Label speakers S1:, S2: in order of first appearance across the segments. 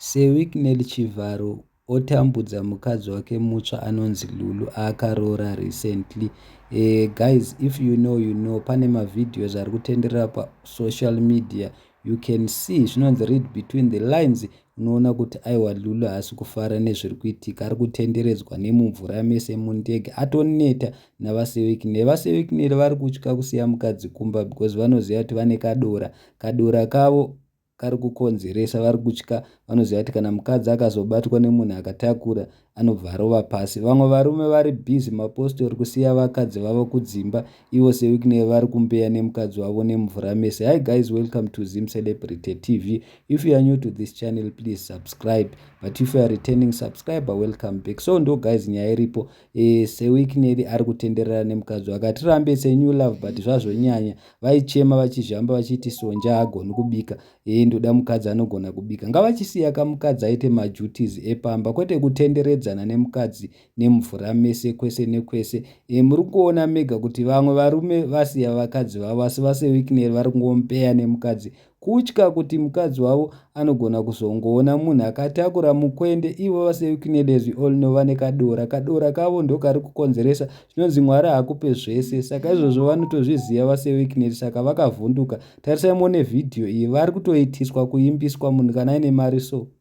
S1: SeWicknell Chivharo otambudza mukadzi wake mutsva anonzi Lulu aakaroora recently. Eh guys if you know you know pane mavideos ari kutenderera pasocial media you can see zvinonzi read between the lines unoona kuti aiwa Lulu haasi kufara nezviri kuitika ari kutenderedzwa nemumvura mese mundege atoneta navaseWicknell. VaseWicknell vari kutya kusiya mukadzi kumba because vanoziva kuti vane kadora. Kadora kavo kari kukonzeresa vari kutya vanoziva kuti kana mukadzi akazobatwa nemunhu akatakura anobva arova pasi vamwe varume vari busy mapostori kusiya vakadzi vavo kudzimba ivo sewickney vari kumbeya nemukadzi wavo nemvura mese hi guys welcome to zim celebrity tv if you are new to this channel please subscribe but if you are returning subscriber welcome back so ndo guys nyaya iripo Eh, seweek Nelly ari kutenderera nemukadzi wake hatirambe it's a new love but zvazvonyanya vaichema vachizhamba vachiti sonja haagoni kubika ee ndoda mukadzi anogona kubika ngavachisiya ka mukadzi aite maduties epamba kwete kutenderedzana nemukadzi nemvura mese kwese nekwese e, muri kuona mega kuti vamwe varume vasiya vakadzi vavo asi vaseweek Nelly vari kungompeya nemukadzi kutya kuti mukadzi wavo anogona kuzongoona munhu akatakura mukwende ivo vasekunedezvi olno vane kadora kadora kavo ndokari kukonzeresa zvinonzi mwari hakupe zvese saka izvozvo vanotozviziva vaseweeknet saka vakavhunduka tarisai muone vhidhiyo iyi vari kutoitiswa kuimbiswa munhu kana aine mari so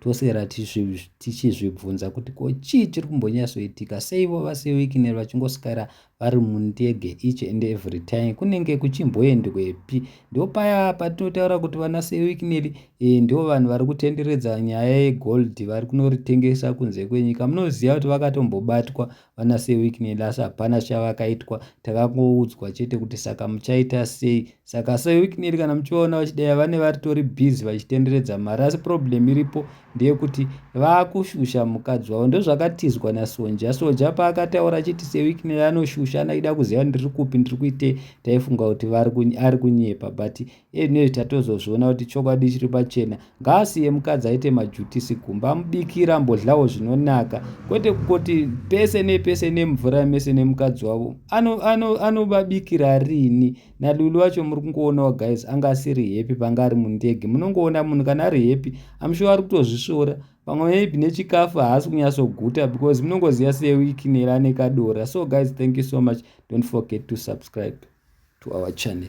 S1: tosera tichizvibvunza kuti ko chii chiri kumbonyatsoitika seivo vasewikiner vachingoswera vari mundege each and every time kunenge kuchimboendwepi ndo paya patinotaura kuti vana sewikiner eh, ndo vanhu vari kutenderedza nyaya yegold vari kunoritengesa kunze kwenyika munoziva kuti vakatombobatwa vana sir week nelas hapana chavakaitwa takangoudzwa chete kuti saka muchaita sei saka sir week neli kana muchivaona vachidaya vane varitori busy vachitenderedza mari asi problem iripo ndeyekuti vakushusha mukadzi wavo ndozvakatizwa nasonja soja paakataura achiti sir week neli anoshusha anaida kuziva ndiri kupi ndiri kuitei taifunga kuti ari kunyepa but Anyway tatozozviona kuti chokwadi chiri pachena. Ngaasiye mukadzi aite majutisi kumba amubikira ambodlawo zvinonaka kwete kungoti pese nepese nemvura mese nemukadzi wavo. Anovabikira ano, ano riini? NaLulu wacho muri kungoonawo guys anga asiri happy panga ari mundege. Munongoona munhu kana ari happy I'm sure ari kutozvisvora pamwe maybe nechikafu haasi kunyatsoguta because munongoziva seweeknel ane kadora so guys thank you so much don't forget to subscribe to our channel